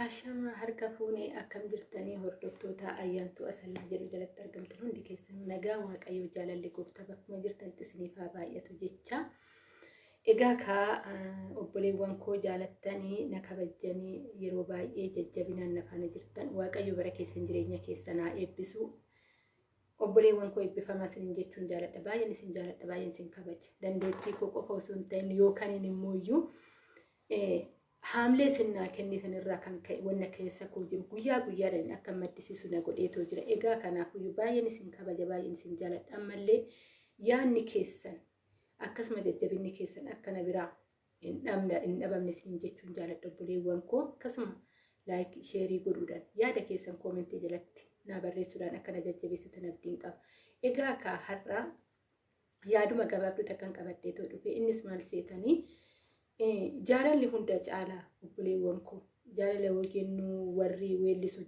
Ashamaa harka fuunee akkam jirtanii hordoftoota ayyaantuu asallaa jedhu jalatti argamtan hundi keessan nagaa waaqayyoo jaalalli gooftaa bakkuma jirtanitti isiniif haa baay'atu jecha egaa kaa obboleewwan koo jaalattanii na kabajjanii yeroo baay'ee jajjabinaan na faana jirtan waaqayyo bara keessan jireenya keessan haa eebbisu obboleewwan koo eebbifamaa isin jechuun jaaladha baay'een isin jaaladha baay'een isin kabaja dandeettii koo qofa osoo hin ta'in yookaan immoo iyyuu Haamlee sin naa kennee san irraa kan ka'e wanna keessa koo jiru guyyaa guyyaadhaan akka maddisiisu na godheetoo jira. Egaa kanaafuyyuu baay'een isin kabaja baay'een isin jaaladha. Ammallee yaadni keessan akkasuma jajjabinni keessan akka na biraa hin dhabne hin dhabamne isin jechuun jaaladha obboleewwan koo akkasuma laayik sheerii godhuudhaan yaada keessan koomentii jalatti naa barreessuudhaan akka na jajjabeessitan abdiin qaba. Egaa kaa har'aa yaaduma gabaabduu takkan qabadheetoo dhufe innis maal seetanii jaalalli hunda caala obboleewwan koo jaalala yoo jennu warri weellisu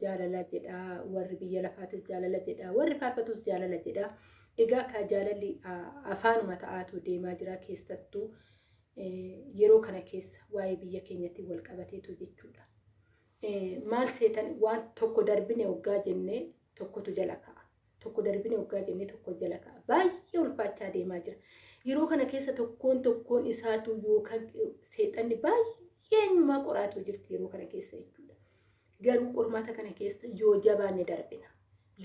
jaalala jedha warri biyya lafaatis jaalala jedha warri faarfatus jaalala jedha egaa kaa jaalalli afaanuma ta'aatu deemaa jira keessattuu yeroo kana keessa waa'ee biyya keenyatti wal qabateetu jechuudha. Maal seetan waan tokko darbine hoggaa jennee tokkotu jala ka'a. Tokko darbine hoggaa jennee tokko jala ka'a. Baay'ee ulfaachaa deemaa jira. Yeroo kana keessa tokkoon tokkoon isaatu yookaan seexanni baay'ee eenyumaa qoraatu jirti yeroo kana keessa jechuudha. Garuu qormaata kana keessa yoo jabaanne darbina.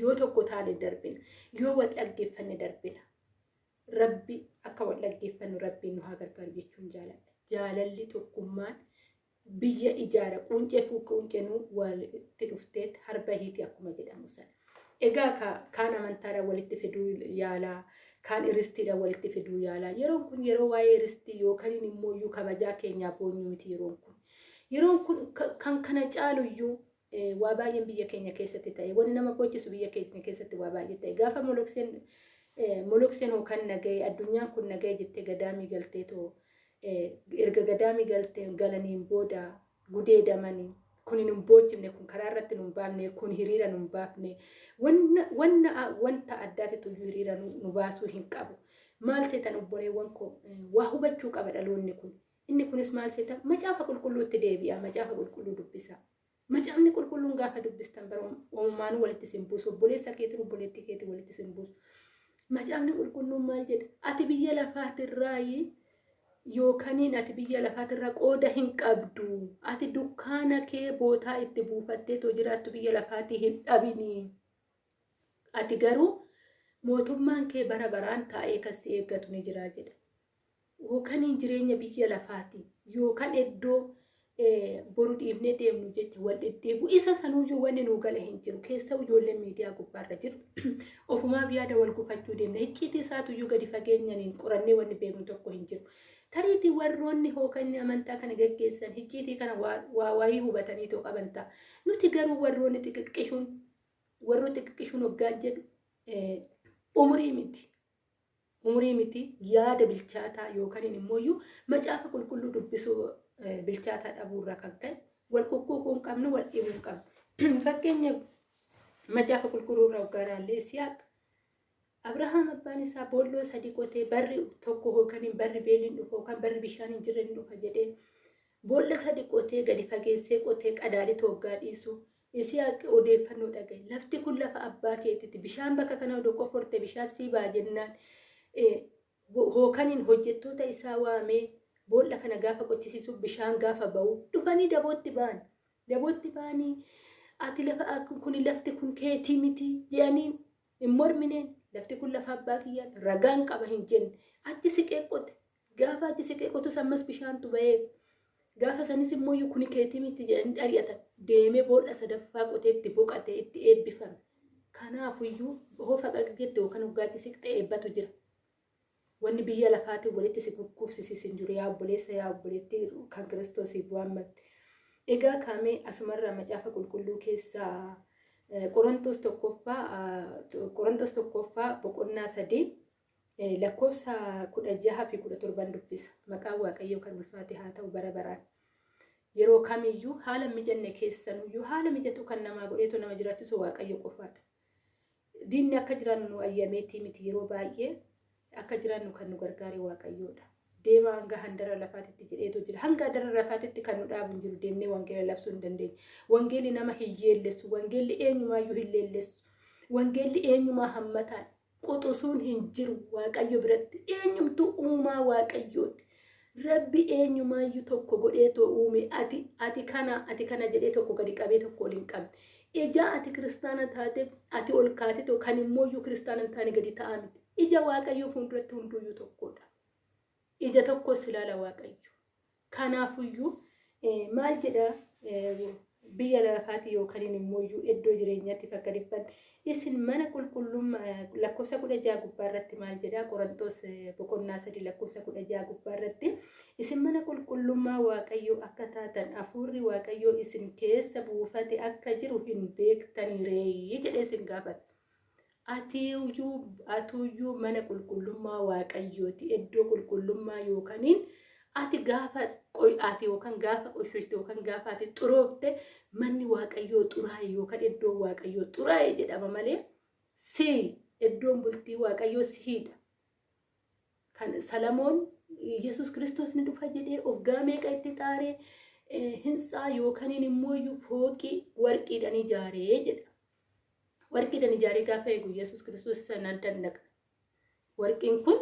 Yoo tokko taane darbina. Yoo wal dhaggeeffanne darbina. Rabbi akka wal dhaggeeffannu rabbiin nu haa gargaaru jechuun jaaladha. Jaalalli tokkummaan biyya ijaara quuncee fuukka uncenuu walitti dhufteet har bahiiti akkuma jedhamu sana. Egaa ka, kaan amantaadhaan walitti fiduu yaalaa, kaan iristiidhaan walitti fiduu yaalaa. Yeroon kun yeroo waa'ee iristii yookaan immoo iyyuu kabajaa keenyaa boonyu miti yeroon kun. Yeroon kun ka- kan kana caalu iyyuu Ee, waa baay'een biyya keenya keessatti ta'e. Wanni nama boochisu biyya keenya keessatti waa baay'ee ta'e. Gaafa molokseen ee, molokseen hoo kan nagahee addunyaan kun nagahee jettee gadaamii galtee too ee, erga gadaamii galteen galaniin booda gudeedamanii kun hin boochifne kun karaa irratti nu hin baafne kun hiriira nu hin baafne wanna wanna a- wanta addaatitu iyyuu hiriira nu nu baasuu hin qabu. Maal seetan obboleewwan koo ee, waa hubachuu qaba dhaloonni kun. Inni kunis maal seeta? Macaafa qulqulluutti deebi'aa, macaafa qulqulluu dubbisaa. Macaafni qulqulluun gaafa dubbistan bara uumaanuu walitti isin buusu, obboleessa keetiin obboleettii keetiin walitti isin buusu. Macaafni qulqulluun maal jedha? Ati biyya lafaatirraayi yookaniin ati biyya lafaatirraa qooda hin qabdu. Ati dukkaana kee bootaa itti buufattee too jiraattu biyya lafaatii hin dhabini. Ati garuu mootummaan kee bara baraan taa'ee kan si eeggatu ni jira jedha. Ookaniin jireenya biyya lafaati yookan eddoo boru dhiifnee deemnu jecha wal dhidhiibu isa sanuuyyuu wanni nuu gale hin jiru keessa'u ijoolleen miidiyaa gubbaarra jiru ofumaaf yaada wal gufachuu deemna hicciitii isaatuyyuu gadi fageenyaniin qorannee wanni beeknu tokko hin jiru tariitii warroonni hookanni amantaa kana geggeessan hicciitii kana waa waayii hubatanii too qaban ta'a nuti garuu warroonni xiqiqqishuun warroo xiqiqqishuun hoggaan jedhu umurii miti umurii miti yaada bilchaataa yookaan immoo iyyuu macaafa qulqulluu dubbisuu eh, bilchaataa dhabuu irraa kan ka'e wal kukkuukuu hin qabnu wal dhibuu hin qabnu fakkeenya macaafa qulqulluu irraa hoggaa ilaallee Isiyaaq Abrahaam abbaan isaa boolloo sadii qotee barri tokko yookaan hin barri beeliin dhufa yookaan barri bishaan hin jirre hin dhufa jedhee boolla sadii qotee gadi fageessee qotee qadaadii tooggaa dhiisu Yisihaaq odeeffannoo dhaga'e. Lafti kun lafa abbaa keetii ti. Bishaan bakka kana odoo qofforte bishaan sii ba'a jennaan Hookaniin hojjettoota isaa waamee boolla kana gaafa qochisiisu bishaan gaafa ba'u dhufanii dabootti ba'an. Dabootti ba'anii ati lafa kun lafti kun keetii miti jedhaniin hin mormineen lafti kun lafa abbaa kiyyaati ragaan qaba hin jenne achi siqee qote Gaafa achi siqee kotus ammas bishaantu bahee gaafa sanis immoo kuni keetii miti jedhanii xari'atan deemee boolla sadaffaa qotee itti boqatee itti eebbifame. Kanaafuyyuu hoo faqaq jette yookaan hoggaa achi siqxe eebbatu jira. Wanni biyya lafaatiin walitti si gurguufsisiis hin jiru yaa obboleessa yaa obboleettii kan kiristoosiif waammatte. Egaa kaamee asumarraa macaafa qulqulluu keessaa Qorontos tokkoffaa Qorontos tokkoffaa boqonnaa sadii Lakkoofsa 16 fi 17 dubbisa. Maqaan Waaqayyoo kan ulfaate haa ta'u bara baraan. Yeroo kamiyyuu haala hin mijanne keessanuyyuu haala mijatu kan namaa godheetu nama jiraachisu Waaqayyo qofaadha. Diinni akka jiraannu nu ayyameetii miti yeroo baay'ee akka jiraannu kan nu gargaare Waaqayyoodha. Deemaa hanga handara lafaatitti jedheetu jira. Hanga handara lafaatitti kan nu dhaabu hin jiru deemnee wangeela labsuu hin dandeenye. Wangeelli nama hin yeellessu. Wangeelli eenyumaayyuu hin leellessu. Wangeelli eenyumaa hammataan quxusuun hin jiru waaqayyo biratti eenyumtuu uumaa waaqayyooti rabbi eenyumaayyuu tokko godhee too uume ati ati kana ati kana jedhee tokko gadi qabee tokko ol hin qabne ija ati kiristaana taateef ati ol kaate too kan immooyyuu kiristaana hin taane gadi ta'aa miti ija waaqayyoo fuulduratti hunduuyyuu tokkodha ija tokkos ilaala waaqayyo Kanaafuyyuu maal jedha biyya lafaati yookaan immoo iyyuu iddoo jireenyaatiif akka dhibban isin mana qulqullummaa lakkoofsa kudha jaha gubbaa irratti maal jedha qorantoos boqonnaa sadii lakkoofsa kudha jaha gubbaa irratti isin mana qulqullummaa waaqayyoo akka taatan hafuurri waaqayyoo isin keessa buufate akka jiru hin beektanii reeyii jedhee isin gaafata. Ati iyyuu mana qulqullummaa Waaqayyoo ti, iddoo qulqullummaa yookaniin ati gaafa qoy'aate yookaan gaafa qoshooshte yookaan gaafa ati xuroofte manni Waaqayyoo xuraa'e yookaan iddoon Waaqayyoo xuraa'e jedhama malee si iddoon bultii Waaqayyoo sihiidha. Kan Salamoon Yesuus Kiristoos ni dhufa jedhee oggaa meeqa itti xaaree hintsaa yookaniin immoo iyyuu fooqii warqiidhaan ijaaree jedha. Warqiidhan ijaaree gaafa eegu Yesuus Kiristoos isa nan dandaqa. Warqiin kun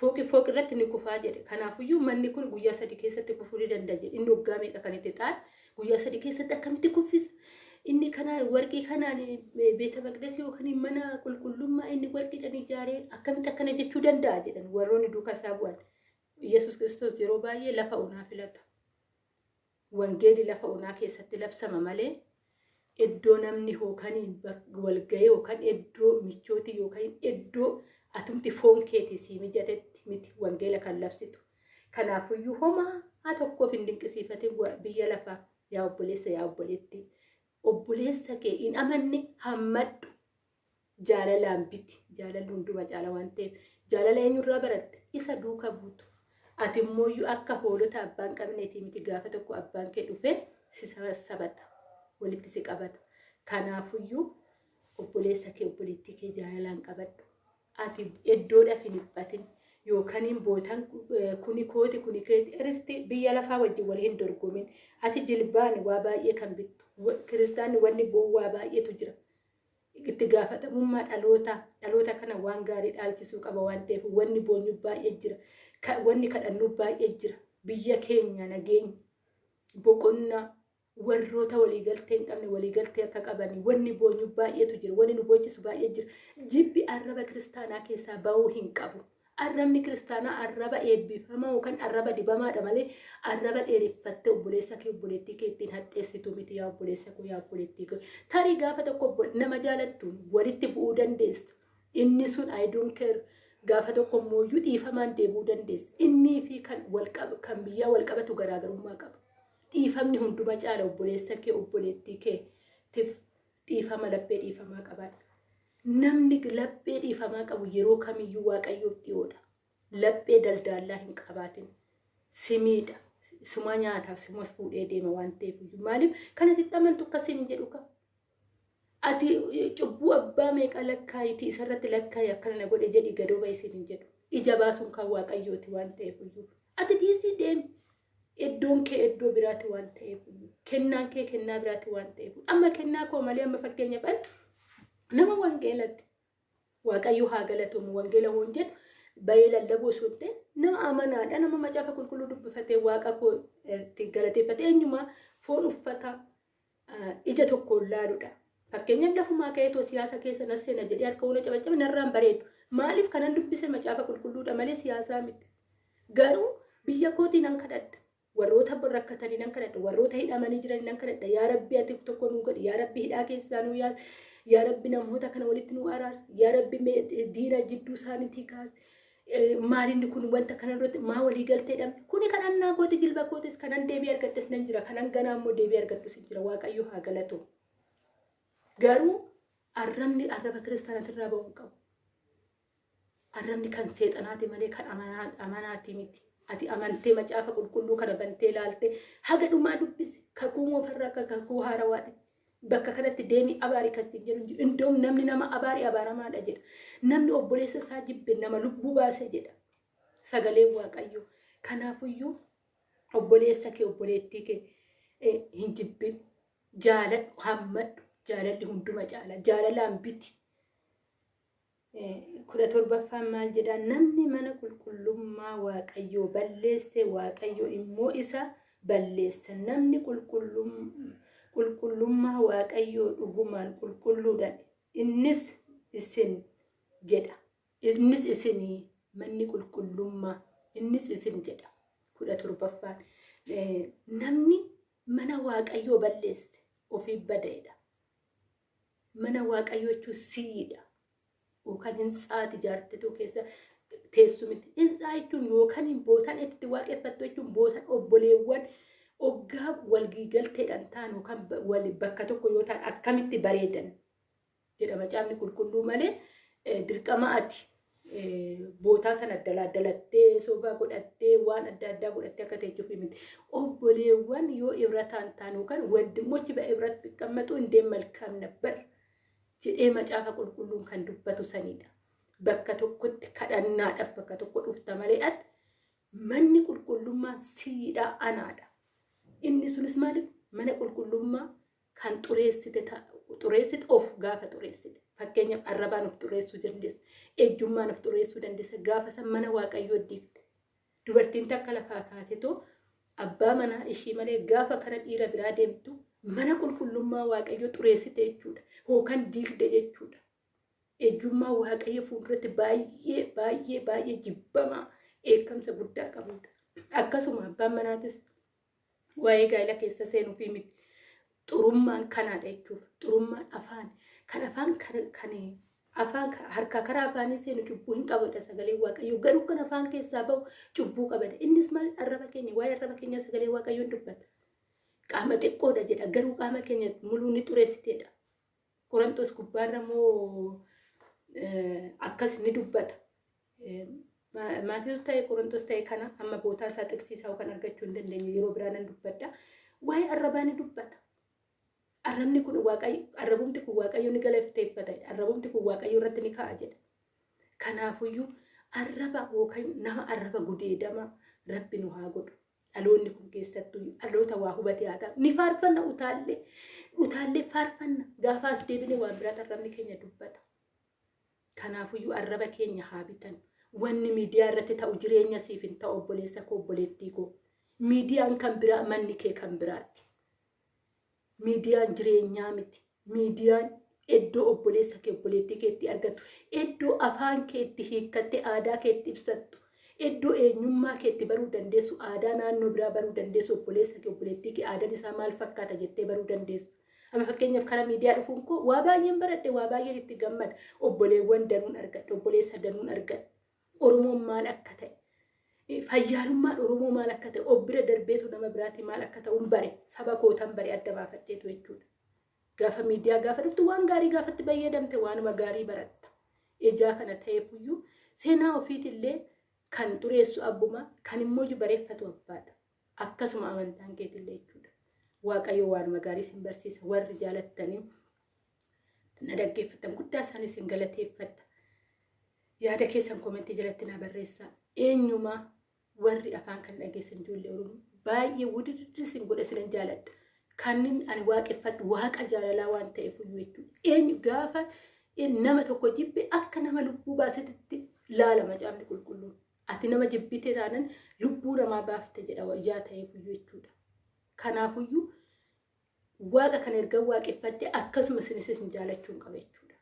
fooqi fooqi irratti ni kufaa jedhe. Kanaafiyyuu manni kun guyyaa sadii keessatti kufuu ni danda'a jedhe. Inni waggaa meeqa kan itti xaare guyyaa sadii keessatti akkamitti kuffisa? Inni kanaan warqii kanaan beeta maqdis yookiin mana qulqullummaa inni warqiidhan ijaaree akkamitti akkana jechuu danda'a jedhan warroonni duukaa isaa bu'an. Yesuus Kiristoos yeroo baay'ee lafa onaa filata. Wangeeli lafa onaa keessatti labsama malee eddoo namni hookan walga'ee yookan eddoo michooti yookan eddoo atumti foon keetii sii mijatetti miti wangeela kan labsitu. Kanaafuyyuu homaa tokkoof hin dinqisiifatin biyya lafaa yaa obboleessa yaa obboleettii. Obboleessa kee hin amanne hammadhu jaalalaan biti jaalalli hunduma caala waan ta'eef jaalala eenyurraa baratte isa duuka buutu ati immoo akka hoolota abbaan qabneetii miti gaafa tokko abbaan kee dhufe si sabata walitti si qabata kanaafuyyuu obboleessa kee obboleettii kee jaalalaan qabadhu ati iddoodhaaf hin dhiphatin yookaan bootan kuni kooti kuni keeti iristi biyya lafaa wajjin wal hin dorgomin ati jilbaan waa baay'ee kan bittu kiristaanni wanni bowwaa baay'eetu jira. Itti gaafatamummaa dhalootaa, dhaloota kana waan gaarii dhaalchisuu qaba waan ta'eef wanni boonyu baay'ee jira. Wanni kadhannu baay'ee jira. Biyya keenya nageenya, boqonnaa, warroota waliigaltee hin qabne waliigaltee akka qabanii wanni boonyu baay'eetu jira. Wanni nu boochisu baay'ee jira. Jibbi arraba kiristaanaa keessaa ba'uu hin qabu. Arrabni kiristaanaa arraba eebbifamaa yookaan arraba dibamaadha malee arraba dheereffattee obboleessa kee obboleettii kee ittiin hadheessitu miti yaa obboleessa koo yaa obboleettii koo. Tarii gaafa tokko nama jaalattuun walitti bu'uu dandeessa. Inni sun I don't care gaafa tokko immoo iyyuu dhiifamaan deebi'uu dandeessa. Innii fi kan walqaba kan biyyaa walqabatu garaagarummaa qaba. Dhiifamni hunduma caala obboleessa kee obboleettii kee tif Dhiifama laphee dhiifamaa qabaadha. Namni laphee dhiifamaa qabu yeroo kamiyyuu waaqayyoof dhiyoodha. Laphee daldaallaa hin qabaatin. Simiidha. Suma nyaataaf sumas fuudhee deema waan ta'eef iyyuu. Maaliif kan ati itti amantu akka siin hin jedhu kaa. Ati cubbuu abbaa meeqa lakkaayiti isarratti lakkaayi akkana na godhe jedhi gadoo bahi siin hin jedhu. Ija baasuun kan waaqayyooti waan ta'eef iyyuu. Ati dhiisii deemi. Iddoon kee iddoo biraati waan ta'eef kennaan kee kennaa biraati waan ta'eef amma kennaa koo malee amma fakkeenyaaf an nama wangeelatti waaqayyo haa galatomu wangeela hoon jedhu bayee lallabuu osoo hin ta'in nama amanaadha nama macaafa qulqulluu dubbifatee waaqa koo eh, itti galateeffate eenyumaa foon uffata ija tokkoon laaludha. Fakkeenyaaf lafumaa ka'ee too siyaasa keessa na seena jedhee harka wal cabaccabe narraan bareedu. Maaliif kanan dubbise macaafa qulqulluudha malee siyaasaa miti. Garuu biyya kootii nan kadhadha. Warroota rakkatanii nan kadhadha. Warroota hidhamanii jiranii nan kadhadha. Yaa Rabbi ati tokko nuu godhi. Yaa Rabbi hidhaa keessaa nuu yaasi. Yaa Rabbi namoota kana walitti nuu araarsi. Yaa Rabbi diina jidduu isaaniitii kaasi. maalinni kun wanta kana irratti maa walii galtee dhabne kuni kadhannaa kooti jilba kootis kanan deebii argadhes nan jira kanan ganaa immoo deebii argadhus hin jira waaqayyo haa galatu garuu arrabni arraba kiristaanati irraa ba'uu qabu arrabni kan seexanaati malee kan amanaati miti ati amantee macaafa qulqulluu kana bantee laaltee haga dhumaa dubbise kakuu moofarraa akka kakuu haarawaati Bakka kanatti deemii abaari kan siin jedhu hin jiru. Indoom namni nama abaari abaaramaadha jedha. Namni obboleessa isaa jibbe nama lubbuu baase jedha. Sagaleen Waaqayyoo. Kanaafuyyuu obboleessa kee obboleettii kee eh, hin jibbin. Jaaladhu, hammadhu. Jaalalli hunduma caala. Jaalalaan biti. kudha torbaffaan maal jedha namni mana qulqullummaa waaqayyoo balleesse waaqayyo immoo isa balleessa namni qulqullummaa waaqayyoo dhugumaan qulqulluudha innis isin jedha innis isinii manni qulqullummaa innis isin jedha kudha torbaffaan namni mana waaqayyoo balleesse ofiif badaedha Mana Waaqayyoo jechuun sii'idha. Yookaan hintsaati jaartituu keessa teessu miti. Hintsaa jechuun yookaan bootan itti waaqeffattu jechuun bootan obboleewwan oggaa walgiigalteedhaan ta'an yookaan bakka tokko yoo ta'an akkamitti bareedan jedha macaafni qulqulluu malee dirqama ati bootaa sana daladdalattee soba godhattee waan adda addaa godhattee akka teechuuf miti. Obboleewwan yoo ibrataan taanu kan wandimmochi ba ibrat biqqammatu indee malkaam nabbar jedhee macaafa qulqulluun kan dubbatu sanidha. Bakka tokkotti kadhannaadhaaf bakka tokko dhufta malee ati manni qulqullummaa siidhaa anaadha. Inni sunis maaliif mana qulqullummaa kan xureessite ta- xureessite of gaafa xureessite fakkeenyaaf arrabaan of xureessuu dandeessa ejjummaan of xureessuu dandeessa gaafa san mana waaqayyoo diigde dubartiin takka lafaa kaatetoo abbaa manaa ishii malee gaafa kara dhiira biraa deemtu mana qulqullummaa waaqayyoo xureessite jechuudha yookaan diigde jechuudha ejjummaa waaqayyo fuulduratti baay'ee baay'ee baay'ee jibbamaa dheekkamsa guddaa qabudha akkasuma abbaan manaatis Waa'ee gaa'ila keessa seenuufii miti. Xurummaan kanaadha jechuuf. Xurummaan afaan. Kan afaan kan afaan harkaa karaa afaanii seenu cubbuu hin qabudha sagalee waaqayyoo. Garuu kan afaan keessaa bahu cubbuu qabada. Innis maal arraba keenya waa'ee arraba keenya sagalee waaqayyoon dubbata. Qaama xiqqoodha jedha garuu qaama keenya muluu ni xureessiteedha. Qorontos gubbaarra immoo akkas ni dubbata. Maatiyus ta'e Qorontos ta'e kana amma bootaa isaa xiqsiisaa kan argachuu hin dandeenye yeroo biraa nan dubbadha. Waa'ee arrabaa ni dubbata. Arrabni kun waaqayyo arrabumti kun waaqayyo ni galateeffata. Arrabumti kun waaqayyo irratti ni ka'a jedha. Kanaafuyyuu arraba yookaan nama arraba gudeedama rabbi nu haa godhu. Dhaloonni kun keessattuu dhaloota waa hubatee haa ta'u. Ni faarfanna utaallee. Utaallee faarfanna. Gaafa as deebinee waan biraa arrabni keenya dubbata. Kanaafuyyuu arraba keenya haa bitannu. Wanni miidiyaa irratti ta'u jireenya siif hin ta'u obboleessa koo obboleettii koo. Miidiyaan kan biraa manni kee kan biraatti. Miidiyaan jireenyaa miti. Miidiyaan iddoo obboleessa kee obboleettii kee itti argattu, iddoo afaan kee itti hiikkattee aadaa kee itti ibsattu, iddoo eenyummaa kee itti baruu dandeessu, aadaa naannoo biraa baruu dandeessu, obboleessa kee obboleettii kee aadaan isaa maal fakkaata jettee baruu dandeessu. Amma fakkeenyaaf karaa miidiyaa dhufuun koo waa baay'een baradhe, waa baay'een itti gammada. Obboleewwan danuun argadhe, obboleessa danuun argadhe. Oromoon maal akka ta'e, fayyaalummaan Oromoo maal akka ta'e, of bira darbeetu nama biraatii maal akka ta'uun bare, saba kootan bare adda baafadheetu jechuudha. Gaafa miidiyaa gaafa dhuftu waan gaarii gaafatti fayyadamte waanuma gaarii baratta. Ijaa kana ta'eefuyyuu seenaa ofiitillee kan xureessu abbuma, kan immoo bareeffatu abbaadha. Akkasuma amantaan keetillee jechuudha. Waaqayyo waanuma gaarii isin barsiisa warri jaalattanii na dhaggeeffattan guddaa isaanii isin galateeffatta. Yaada keessan komentii jalatti naa barreessaa. Eenyumaa warri afaan kan dhageessan ijoollee Oromoo baay'ee wudirri isin godha isinan jaaladha. Kanin ani waaqeffadhu waaqa jaalalaa waan ta'eef iyyuu jechuudha. Eenyu gaafa nama tokko jibbe akka nama lubbuu baasetti laala macaafni qulqulluun. Ati nama jibbite taanan lubbuu namaa baafte jedha ijaa ta'eef iyyuu jechuudha. Kanaafuyyuu waaqa kan erga waaqeffadhe akkasuma isinis isin jaalachuun qaba jechuudha.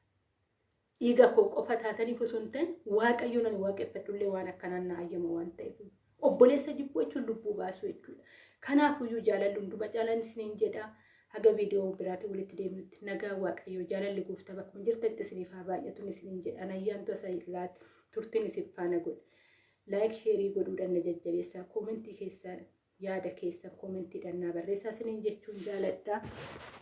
Dhiiga koo qofa taataniif osoo hin ta'in waaqayyoon ani waaqeffadhullee waan akkanaan na ayyama waan ta'eef obboleessa jibbuu jechuun lubbuu baasuu jechuudha. Kanaafuyyuu jaalalli hunduma caalaan isiniin jedha. Haga viidiyoo biraatiin walitti deebinutti nagaa waaqayyoo jaalalli gooftaa bakkuma jirtanitti isiniif haa baay'atuun isiniin jedha. Ani ayyaantu asayillaati turtiin isin faana godha. Laayik sheerii godhuudhaan na jajjabeessaa koomentii keessaan yaada keessan koomentiidhaan naa barreessaa isiniin jechuun jaaladha.